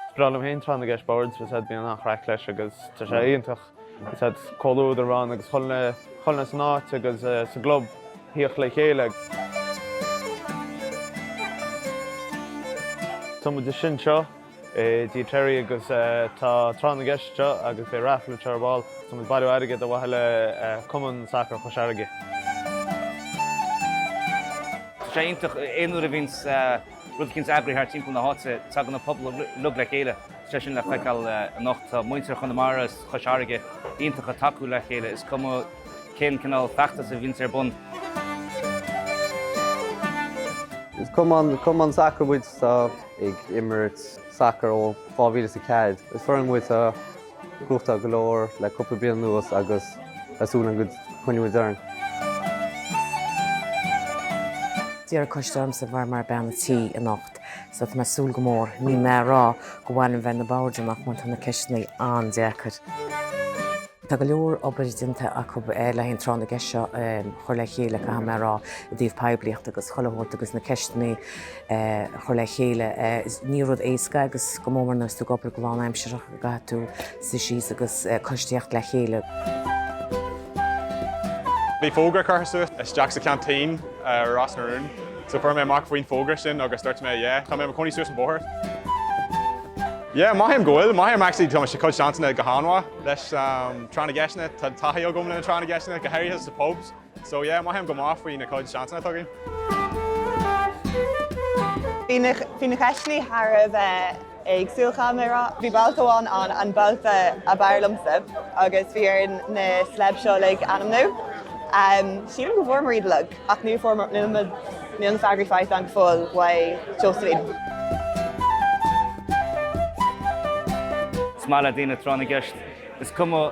Is breá liom féin tráth na gceist boird, because bíonn an-chraic leis agus tá sé iontach, because bíonn comhluadar ann agus chuile dhuine san áit agus sa gclub ag tíocht le chéile. Tá muid anseo i dTí Terry agus tá tráth na gceist anseo agus beidh raifl anseo ar ball, tá muid ag bailiú airgid ar mhaithe le Cumann Sacair Chois Fharraige. Tá sé iontach, aon uair a bhíonns Rud eicínt á eagrú thart timpeall na háite. Tagann an pobal uilig le chéile. Tá sé sin le feiceáil anocht. Tá muintir Chonamara is Chois Fharraige iontach ag tacú le chéile, is cuma cén cineál feachtais a bhíonns ar bun. Is cumann sacair muid atá ag imirt sacair ó 2004. Is foireann muid a. gnóthachtáil go leor le cúpla bliain anuas agus ag súil go gcoinneoidh muid orainn. D'iarr an coiste ormsa a bheith mar bhean an tí anocht so tá mé ag súil go mór. Ní mé ar bhreá dhom féin a bheith ag na boird amach mar tá na ceisteannaí an-deacair. Tá go leor obair déanta acu le haghaidh an tráth na gceist seo a chur le chéile caithfidh mé a rá i dtaobh poiblíocht agus chuile shórt agus na ceisteannaí chur le chéile. Ní rud éasca é agus go mór mór nuair atá tú ag obair go lánaimseartha go gcaithfidh tú suí síos agus coiste a thíocht le chéile. Bhí fógra curtha suas isteach sa cheaintín ar Ros na Rún. So fuair mé amach faoin fógra sin agus duirt mé yeah, tá mé i mo chónaí suas an bóthar. Yeah, mothaím go bhfuil, mothaím actually tá mo chuid seansanna go han-mhaith leis na tráth na gceisteanna, tá taithí agam le na tráth na gceisteanna, go háirithe sna pubs. So yeah, mothaím go maith faoi na cuid seansanna atá againn. Bhí na ceisteannaí thar a bheith éagsúil caithfidh mé a rá. Bhí babhta amháin ann, an babhta ab fhearr liomsa, agus bhí orainn na celebs seo uilig a ainmniú. Sílim go bhfuair muid iad uilig, ach níor fuair Mar-, níl na, níl na freagraí faighte againn go fóill, ó Josephine. Is maith le daoine tráth na gceist. Is cuma.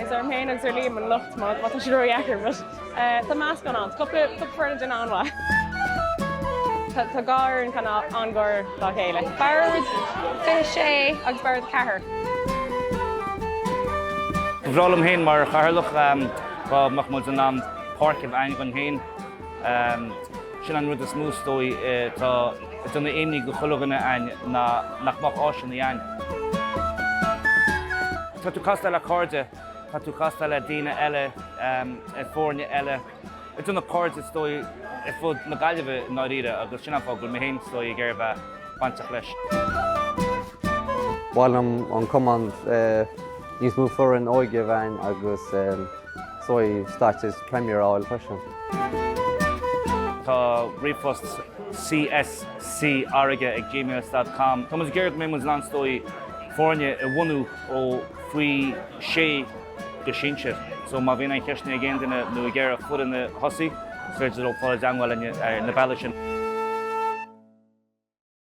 Is orm féin agus ar Liam an locht má tá sé ródheacair, but tá meascán ann. Tá cúpla foireann ag déanamh an-mhaith. Tá dhá fhoireann chan an-ghar dá chéile. Bord 6 agus Bord 4. Ba bhreá liom féin mar chathaoirleach dá mbeadh muid in ann páirc a bheith againn féin. Sin an rud is mó is dóigh atá ag déanamh imní do chuile dhuine againn ná nach mbeadh áiseanna ann. Tá tú ag castáil le cairde, tá tú ag castáil le daoine eile ar fhoirne eile, ag déanamh cairde is dóigh ar fud na Gaillimhe i ndáiríre agus sin an fáth go bhfuil mé féin is dóigh ag iarraidh bheith bainteach leis. Ba mhaith leis an gcumann níos mó foireann óige a bheith ann agus suíomh stáit agus Premier a fháil freisin. Tá ríomhphost CSCAirge ag gmails.com. Táimid ag iarraidh go mbeimid in ann, is dóigh, foirne a bhunú ó faoi shé go sinsear. So má bhíonn aon cheisteanna ag aon duine nó ag iarraidh cur ina thosaigh, is féidir leo fáil i dteagmháil linn ar na bealaigh sin.